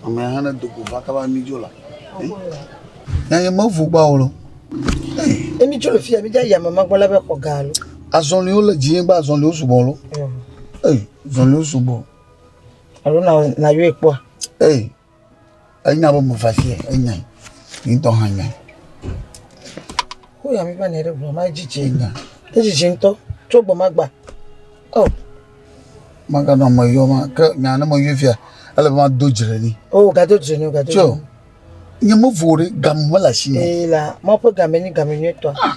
Ame aɖe hã do go va kaba mi dzo la. Nyanye mevu gba o lɔ. Ne mi dzo le fia mi dza yame ma gbɔ la be xɔ ga lo. Azɔliwo le dzinye gba azɔliwo sugbɔ lo. Ee, zɔliwo sugbɔ. Alo na na yɔe kpɔ. Ee. Enya be meva fie, enyae, nye ŋutɔ hã nyae. Woyɔ mi va nɛ ɖe ʋua me, edzidzi enya. Edzidzi ŋutɔ, tso gbe ma gba. Oh. Maganɔ ame yɔ ma, ke nya ne meyɔe fia, ele be mado dzi ɖe ni. Oh, gado dzi ne, gado dzi. Tso, nye me vo ɖe, game mele asi me. Ee, la, ma ƒe game nye game nyuitɔ. Ah.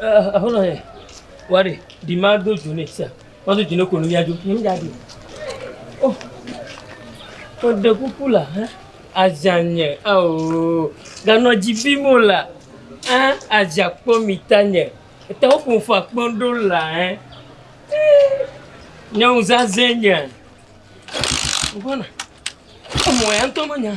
Aƒenɔ yɛ, wa ɖe, ɖi ma do dzo ne sia. Ma do dzo ne konu ya dzo. Ni mi da ɖi. Oh, o de kuku la, hein? Azanye, oh, ganɔ dzi bi mo la, hein? Aza kpɔ mi ta nye. Eta wo kun fa kpɔn do la, hein? Nyɔnu zazɛ nye. Bona, o mo ya ntɔ mo nya.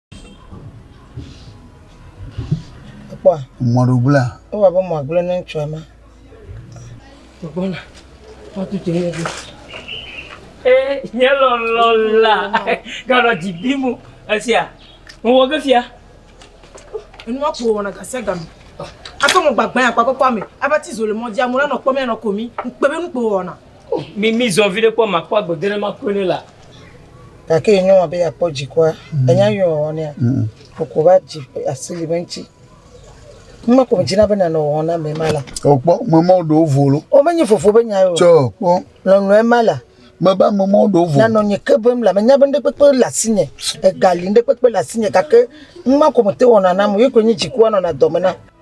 Kpɔa? Mɔɖogblẽa. Ewa be mɔa gblẽ ne ŋutsua ma. Gbɔna. Woatu tse ne ɖo. Ee, nye lɔlɔ la. Ganɔ dzi bi mu. Esia. Wowɔ ge fia. Enua ko wɔna gase game. Ato mo gbagbã ya kpakpɔ kpɔ ame. Ava ti zo le mɔdzi amu la nɔ kpɔ mia nɔ komi. Ŋkpe be nu ko wɔna. Mi mi zɔ viɖe kpɔ makpɔ agbe gena makue ne la. Gake ye nyɔa be yakpɔ dzikua, mm. enya yɔ wɔ nea. Mm. Koko va dzi asi li be ŋuti. Mma ko dzina be nanɔ wɔ na me ma la. O kpɔ mama ɖo volo. O be nye fofo be nya yo. Tsɔ kpɔ. Lɔlɔ ma la. Me ba mama ɖo volo. Nanɔ nye ke bem la me nya be ŋɖe kpekpe le asi nye. Egali ŋɖe kpekpe le asi nye gake mma ko me te wɔ na na me ye ko nye dzikua nɔ na dɔ me na.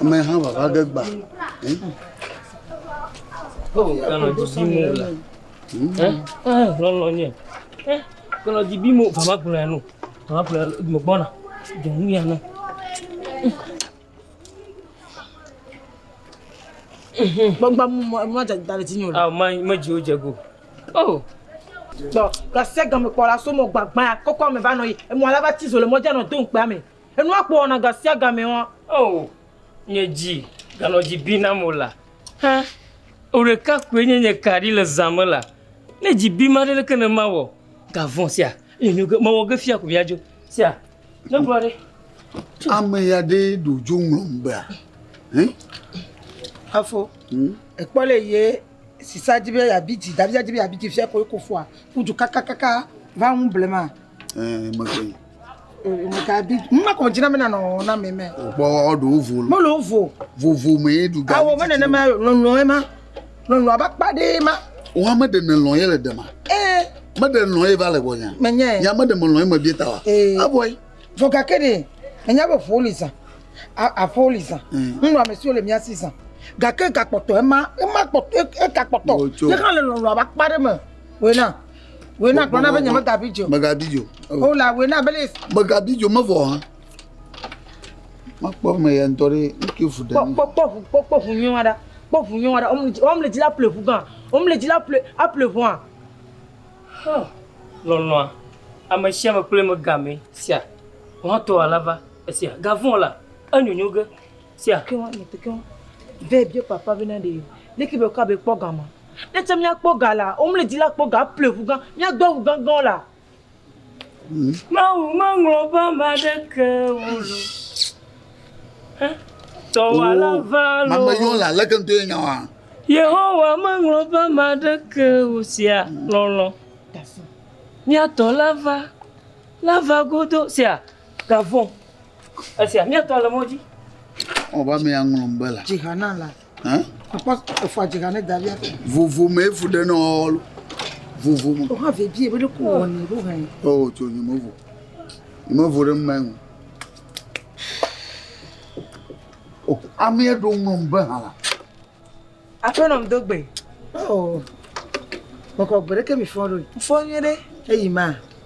Ameha vava ge gba. Kanɔ didi mo la. Lɔlɔ nye. Kanɔ didi mo vava kplɔ ya no. Vava kplɔ ya me gbɔna. Dɔnu ya no. Gbɔngbɔn mu mu adze dale ti nyo. Ah, ma ma jiwo jego. Oh. Tɔ, kasi agame kpɔ la so mo gbagba kɔkɔ me va nɔ yi. Emɔ la va ti zo le mɔ djanɔ do nkpea me. Le nua kpɔ wɔna ga sia ga mɛa? Oo, nye dzi ganɔ dzi bim nam o la, hã ŋu ɖeka koe nye nye ka ɖi le zã me la. Ne dzi bim aɖe leke ne mawɔ? Ga vɔ̃ sia nye nyo ge mewɔ ge fia ko miadzo. Sia ne gblɔ ɖe. Ame ya ɖe ɖo dzo ŋlɔm bea? Hĩ? Afo. Hum. Ekpɔ le ye sisa dzi be ya bi dzi, davia dzi be ya bi dzi fia ko ye kofua ku du kakakaka va ŋu blema. Eh, mekpɔe. Gabi, mma kò dzina mena nɔ na me me. Kpɔ ɔɖo vovo. Mo lo vovo. Vovo me ye du gabi. Awo me nene ma lɔlɔ ye ma. Lɔlɔ aba kpa de ma. O ha me de ne lɔ ye le de ma. Eh. Me de lɔ ye va le bɔ nya. Me nya. Nya me de me lɔ ye me bi ta wa. Eh. Aboy. Vɔ gake de. Me nya be vo li zan. A vo li zan. Ŋlɔ ame siwo le mia si zan. Gake gakpɔtɔ ema ema kpɔtɔ eka kpɔtɔ. Ye kan le lɔlɔ aba kpa de me. Wena. Wòe na gblɔna be nyemegabi dzi o. Megabi dzi o. Wo la, wòe na be ne. Megabi dzi o, mevɔ hã. Makpɔ me ya ŋutɔ ɖe ŋke ŋu ɖe. Kpɔ kpɔ ŋu kpɔ kpɔ ŋu nyɔa ɖa. Kpɔ ŋu nyɔa ɖa. Wɔm le dzi la ple ŋu gã. Wɔm le dzi la ple aple ŋua. Hã lɔlɔ̃a ame sia ame kple megamee. Sia ŋutɔ ala va esia gavɔn la enyonyo ge sia. Ke wa ne te ke wa. Vɛ bia papa be na ɖe leke be kwa be kpɔ gama. Ne tsɛ míakpɔ ga la, womlɔe di la kpɔ ga aple ŋu gã. Míado awu gãgãwo la. Mawu meŋlɔ ƒe ame aɖeke ŋu lo. Ẽ, dɔwɔla ʋã lo. Mame yɔ la leke ŋutɔ ye nya wa? Yehowa meŋlɔ ƒe ame aɖeke ŋu sia lɔlɔ̃. Mía tɔ la va, la va godo sia gavɔ. Esia, mía tɔ le mɔ dzi. Ɔ, va mea ŋlɔ ŋbe la. Dzi ha na la. Hein? Papa, efo adjega ne dalia. Vovo me efu ɖe nɔɔlo. Vovo me. Oha ve bie be ɖe ko wɔ ne ɖo hɛn. Oh, tso nyi mevo. Nyi mevo ɖe mma ŋu. Oh, amea ɖo ŋlɔm be hã la. Aƒenɔ m do gbe. Oh. Mekɔ gbe ɖe ke mi fɔ ɖo. Fɔ nyuie ɖe. Eyi ma.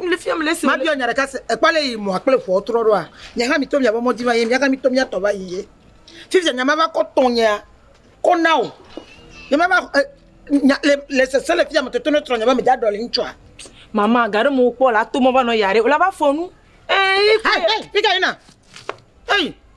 Mabiɔ nya ɖeka se, èkpɔ ale yi mɔa kple ʋua wotrɔ ɖoa? Nye hã mito miaƒe mɔ dzi va yiyim, mía hã mito mía tɔ va yiyim. Fifia nya mava kɔ tɔnyea kɔ na wò. Nye mava e nya le le sese le fia me toto ne trɔ nye be meda ɖɔli ŋutsua. Mama, ga ɖe me wokpɔ wòle ato mɔ va nɔ ya ɖe wòle ava fɔ nu. Eeii. Hɛ hɛ fika yina. Ei.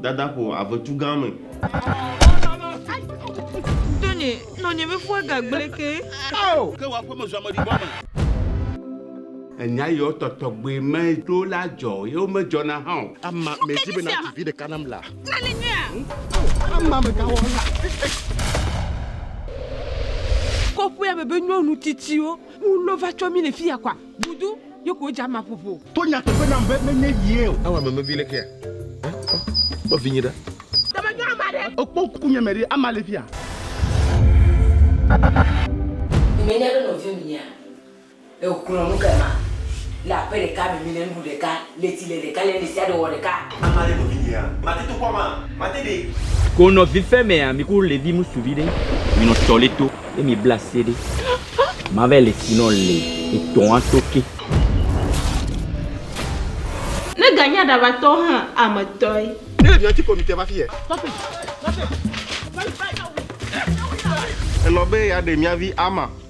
Dada ƒo avetu gã me. Nɔnye, nɔnye be ƒua ga gblẽ ke. Ao! Ke wò aƒeme zu ameɖibɔ me. Enya yiwo tɔtɔgbe me ɖo la dzɔ, ye womedzɔna hã o. Ama medi be nàtu vi ɖeka nam la. Nane nyuia? Ao! Ama megawɔla. Kɔƒea me be nyɔnu tsitsiwo, wulɔ va tsɔ mí le fiya kɔa? Vudu ye ko dza ma ƒoƒo. To nyateƒe nam be menye yie o. Awa memevi le kea? Eh, kpɔ, kpɔ vinye ɖa. Ke me nyɔa ma ɖe. Ekpɔ ŋku nye me ɖe, ama le fia. Mi me nya be nɔviɔ mi nyea? Ehlɔ̃ nu ke ma le aƒe ɖeka me mi ne nuɖu ɖeka. Le ti le ɖeka le nèsia ɖe wɔ ɖeka. Ame aɖe nɔ vinyea? Mate to kpɔa ma? Mate ɖe. Ko nɔ vi fe mea mi ku levi musu vi ɖe mi nɔ tɔ le to ye mi bla se ɖe ma vɛ le ti nɔ le etɔ a to ke. Ne ganye aɖabatɔ hã ame tɔe. Ne evian ti ko mi te va fiye. Elɔ be ya ɖe mia vi ama.